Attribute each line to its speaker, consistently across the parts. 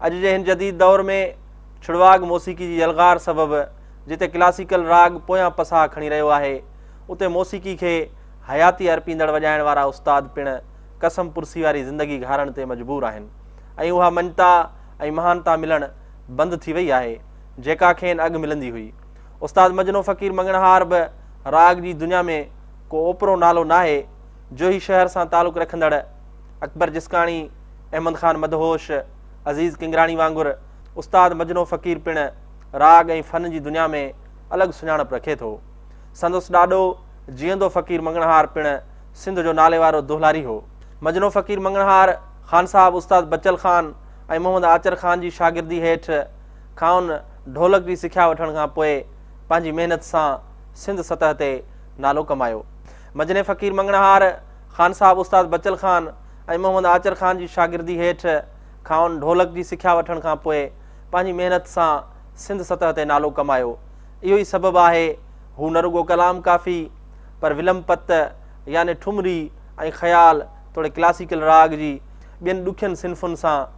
Speaker 1: اڄ جي هن جديد دور ۾ ڇڙواڳ موسيقي جي يلغار سبب جتي ڪلاسيڪل راڳ پويان پساهه کڻي رهيو آهي اتي موسيقي کي حياتي ارپيندڙ وڄائڻ وارا استاد پڻ قسم پرسي واري زندگي گهارڻ تي مجبور آهن ۽ اها مڃتا ۽ مهانتا ملڻ بند ٿي وئي آهي جيڪا کين اڳ ملندي هئي. استاد مجنو فقير مڱڻهار به راڳ جي دنيا ۾ ڪو اوپرو نالو ناهي. جوهي شهر سان تعلق رکندڙ اڪبر جسڪاڻي، احمد خان مدهوش، عزيز ڪنگراڻي وانگر استاد مجنو فقير پڻ راڳ ۽ فن جي دنيا ۾ الڳ سڃاڻپ رکي ٿو. سندس ڏاڏو جيئندو فقير مڱڻهار پڻ سنڌ جو ناليوارو دهلاري هو. مجنو فقير مڱڻهار خانصاحب استاد بچل خان ۽ محمد آچر خان جي شاگردي هيٺ کانئن ڍولڪ جي سکيا وٺڻ کان پوء پنهنجي محنت سان سنڌ سطح تي نالو ڪمايو. مجني فقير مڱڻهار خان صاحب استاد بچل خان ۽ محمد آچر خان جي شاگردي هيٺ کانئن ڍولڪ جي سکيا وٺڻ کان پوء پنهنجي محنت سان سنڌ سطح تي نالو ڪمايو. اهو ئي سبب آهي هو نه رڳو ڪلام ڪافي پر ولم پت يعني ٺمري ۽ خيال توڙي ڪلاسيڪل راڳ جي ٻين ڏکين صنفن سان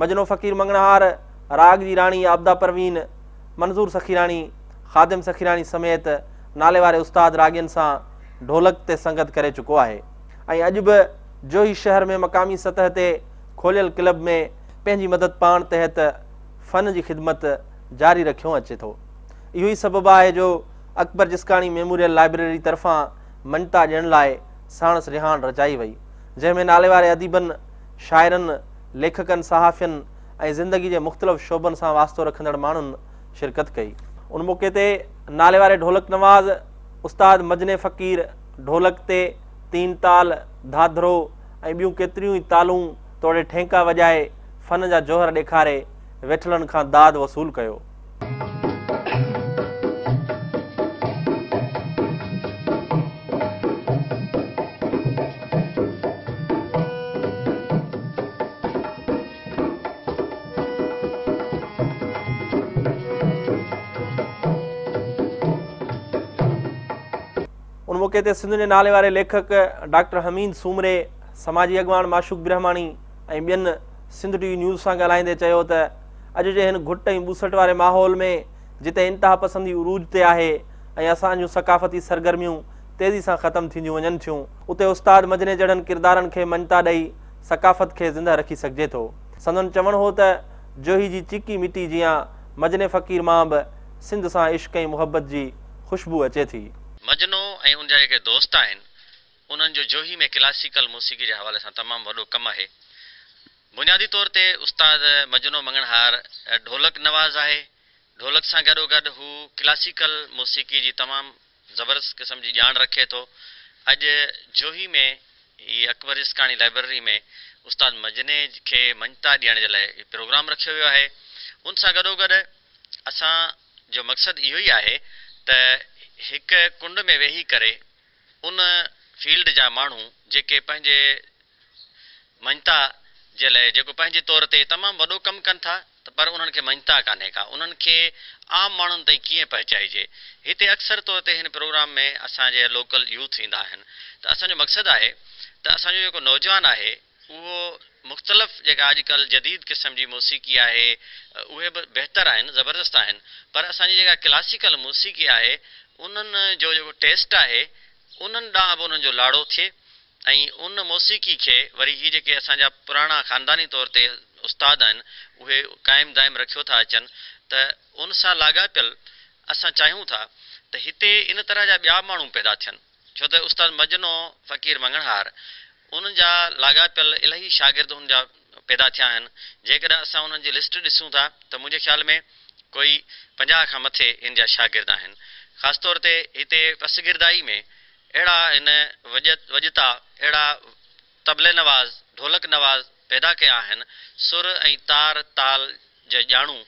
Speaker 1: مجنو فقير منگنهار راڳ جي راڻي عبدا پروين منظور سخيراڻي خادم سخيراڻي سميت نالي واري استاد راڳين سان ڍولڪ تي سنگت ڪري چڪو آهي ۽ اڄ به جوهي شهر ۾ مقامي سطح تي کوليل ڪلب ۾ پنهنجي مدد پاڻ تحت فن جي خدمت جاري رکيو اچي ٿو. اهو ئي سبب آهي جو اڪبر جسڪاڻي ميموريل لائبريري طرفان مڃتا ڏيڻ لاء ساڻس رهاڻ رچائي وئي، جنهن ۾ ناليواري اديبن، شاعرن، ليکڪن، صحافين ۽ زندگي جي مختلف شعبن سان واسطو رکندڙ ماڻهن شرڪت ڪئي. ان موقعي تي ناليواري ڍولڪ نواز، استاد مجني فقير، ڍولڪ تي تين تال، ڌاڌرو ۽ ٻيون ڪيتريون ئي تالون توڙي ٺينڪا وڄائي فن جا جوهر ڏيکاري، ويٺلن کان داد وصول ڪيو. ان موقعي تي سنڌ جي ناليواري ليکڪ ڊاڪٽر حميد سومري، سماجي اڳواڻ معشوق برهماڻي، ۽ ٻين سنڌ ٽي وي نيوز سان ڳالهائيندي چيو ته اڄ جي هن گهٽ ۽ ٻوسٽ واري ماحول ۾ جتي انتهاپسندي عروج تي آهي ۽ اسان جون ثقافتي سرگرميون تيزي سان ختم ٿينديون وڃن ٿيون اتي استاد مجني جهڙن ڪردارن کي مڃتا ڏئي ثقافت کي زنده رکي سگهجي ٿو سندن چوڻ هو ته جوهي جي چيڪي مٽي جيان مجني فقير مان به سنڌ سان عشق ۽ محبت جي خوشبو اچي ٿي. مجنو ۽
Speaker 2: ان جا جيڪي دوست آهن انهن جو جوهي ۾ ڪلاسيڪل موسيقي جي حوالي سان تمام وڏو ڪم آهي. بنيادي طور تي استاد مجنو مڱڻهار ڍولڪ نواز آهي. ڍولڪ سان گڏوگڏ هو ڪلاسيڪل موسيقي جي تمام زبردست قسم جي ڄاڻ رکي ٿو. اڄ جوهي ۾ ئي اڪبر عشقاڻي لائبرري ۾ استاد مجني کي مڃتا ڏيڻ جي لاء پروگرام رکيو ويو آهي. ان سان گڏوگڏ اسان جو مقصد اهو ئي آهي ته هڪ ڪنڊ ۾ ويهي ڪري، ان فيلڊ جا ماڻهو جيڪي پنهنجي مڃتا جي لاء جيڪو پنهنجي طور تي تمام وڏو ڪم ڪن ٿا ته پر انهن کي مڃتا ڪانهي ڪا انهن کي عام ماڻهن تائين ڪيئن پهچائجي هتي اڪثر طور تي هن پروگرام ۾ اسان جي لوڪل يوٿ ايندا آهن ته اسان جو مقصد آهي ته اسان جو جيڪو نوجوان آهي اهو مختلف جيڪا اڄ ڪلهه جديد قسم جي موسيقي آهي اهي به بهتر آهن زبردست آهن پر اسان جي جيڪا ڪلاسيڪل موسيقي آهي انهن جو جيڪو ٽيسٽ آهي انهن ڏانهن به انهن جو لاڙو ٿئي ۽ ان موسيقي کي وري هي جيڪي اسان جا پراڻا خانداني طور تي استاد آهن اهي قائم دائم رکيو ٿا اچن ته ان سان لاڳاپيل اسان چاهيون ٿا ته هتي ان طرح جا ٻيا ماڻهو پيدا ٿين. ڇو ته استاد مجنو فقير مڱڻهار انهن جا لاڳاپيل الاهي شاگرد هن جا پيدا ٿيا آهن جيڪڏهن اسان انهن جي لسٽ ڏسون ٿا ته منهنجي خيال ۾ ڪوئي پنجاهه کان مٿي ان جا شاگرد آهن خاص طور تي هتي پسگردائي ۾ اهڙا هن وڄتا اهڙا طبلي نواز، ڍولڪ نواز پيدا ڪيا آهن، سر ۽ تار تال جا ڄاڻو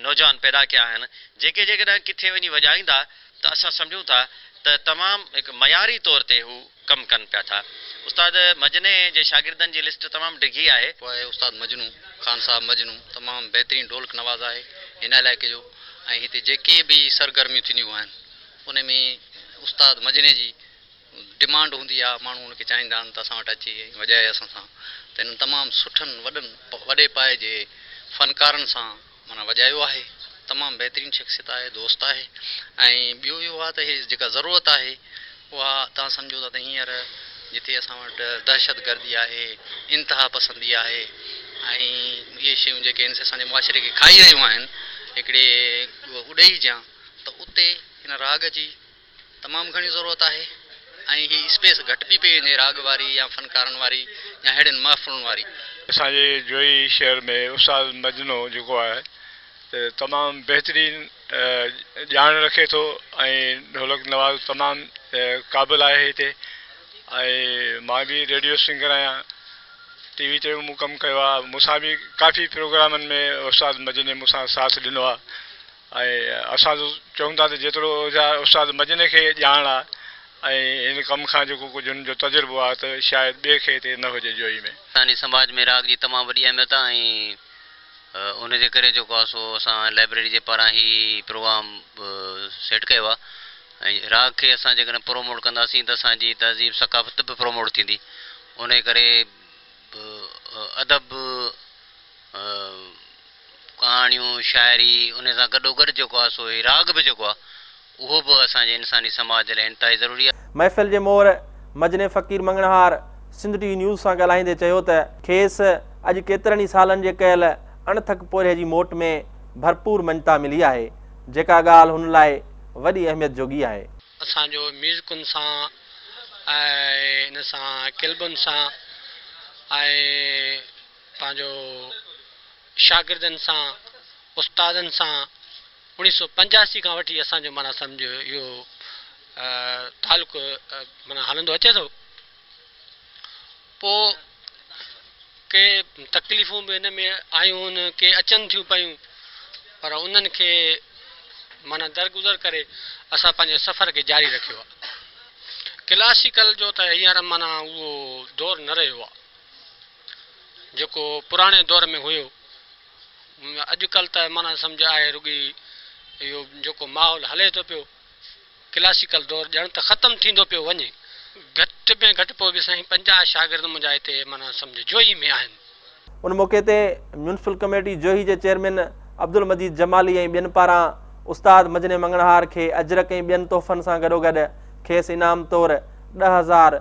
Speaker 2: نوجوان پيدا ڪيا آهن، جيڪي جيڪڏهن ڪٿي وڃي وڄائيندا ته اسان سمجهون ٿا ته تمام هڪ معياري طور تي هو ڪم ڪن پيا ٿا. استاد مجني جي شاگردن جي لسٽ تمام ڊگهي آهي. پوء استاد مجنو
Speaker 3: خان صاحب مجنو تمام بهترين ڍولڪ نواز آهي هن علائقي جو ۽ هتي جيڪي به سرگرميون ٿينديون آهن انهي ۾ استاد مجني جي ڊمانڊ هوندي آ ماڻهو ان کي چاهيندا آهن ته اسان وٽ اچي ۽ وڄائي اسان سان ته هنن تمام سٺن وڏن وڏي پائي جي فنڪارن سان معنيٰ وڄايو آهي تمام بهترين شخصيت آهي دوست آهي ۽ ٻيو اهو آ ته هي جيڪا ضرورت آهي اها توهان سمجهو ٿا ته هينئر جتي اسان وٽ دهشت گردي آهي انتها پسندي آهي ۽ اهي شيون جيڪي آهن سي اسان جي معاشري کي کائي رهيون آهن هڪڙي اڏئي جيان ته اتي هن راڳ جي تمام گهڻي ضرورت آهي ۽ هي اسپيس گهٽ به پئي وڃي راڳ واري يا فنڪارن واري يا اهڙين محفلن واري. اسان جي جويي
Speaker 4: شهر ۾ استاد مجنو جيڪو آهي ته تمام بهترين ڄاڻ رکي ٿو ۽ ڍولڪ نواز تمام قابل آهي هتي ۽ مان به ريڊيو سنگر آهيان ٽي وي تي به مون ڪم ڪيو آهي مون سان به ڪافي پروگرامن ۾ استاد مجني مون سان ساٿ ڏنو آهي. ۽ اسان تون چون ٿا ته جيترو استاد مجني کي ڄاڻ آ ۽ هن ڪم کان جيڪو ڪجهه هن جو تجربو آ ته شايد ٻئي کي هتي نه هجي جوئي ۾. اسانجي سماج ۾ راڳ
Speaker 2: جي تمام وڏي اهميت آ ۽ ان جي ڪري جيڪو آ سو اسان لائبريري جي پاران هي پروگرام سيٽ ڪيو آ ۽ راڳ کي اسان جيڪڏهن پروموٽ ڪنداسين ته اسان جي تهذيب ثقافت به پروموٽ ٿيندي انهي ڪري ادب ڪهاڻيون، شاعري، انهي سان گڏوگڏ جيڪو آهي سو هي راڳ به جيڪو آهي اهو به اسان جي انساني سماج جي لاء انتهائي ضروري آهي. محفل جي مور
Speaker 1: مجني فقير مڱڻهار سنڌ ٽي وي نيوز سان ڳالهائيندي چيو ته کيس اڄ ڪيترن ئي سالن جي ڪيل اڻٿڪ پورهيي جي موٽ ۾ ڀرپور مڃتا ملي آهي جيڪا ڳالهه هن لاء وڏي اهميت جوڳي آهي. اسان جو
Speaker 5: ميوزڪن سان ۽ ان سان ڪلبن سان ۽ پنهنجو شاگردن سان، استادن سان اوڻيهه سؤ پنجاسي کان وٺي اسان جو معنيٰ سمجهه اهو تعلق معنيٰ هلندو اچي ٿو. پوء ڪي تڪليفون به ان ۾ آيون هن ڪي اچن ٿيون پيون پر انهن کي معنيٰ درگذر ڪري اسان پنهنجي سفر کي جاري رکيو آهي. ڪلاسيڪل جو ته هينئر معنيٰ اهو دور نه رهيو آهي. جيڪو پراڻي دور ۾ هيو. اڄ ڪلھ ته معنيٰ سمجھ آهي رڳي اهو جيڪو ماحول هلي ٿو پيو، ڪلاسيڪل دور ڄڻ ته ختم ٿيندو پيو وڃي. گھٽ ۾ گھٽ پوء به سائين پنجاهه شاگرد منهنجا هتي معنيٰ سمجھ جوهي ۾ آهن. ان موقعي تي
Speaker 1: ميونسپل ڪميٽي جوهي جي چيئرمين عبدالمجيد جمالي ۽ ٻين پاران استاد مجني مڱڻهار کي اجرڪ ۽ ٻين تحفن سان گڏوگڏ کيس انعام طور ڏهه هزار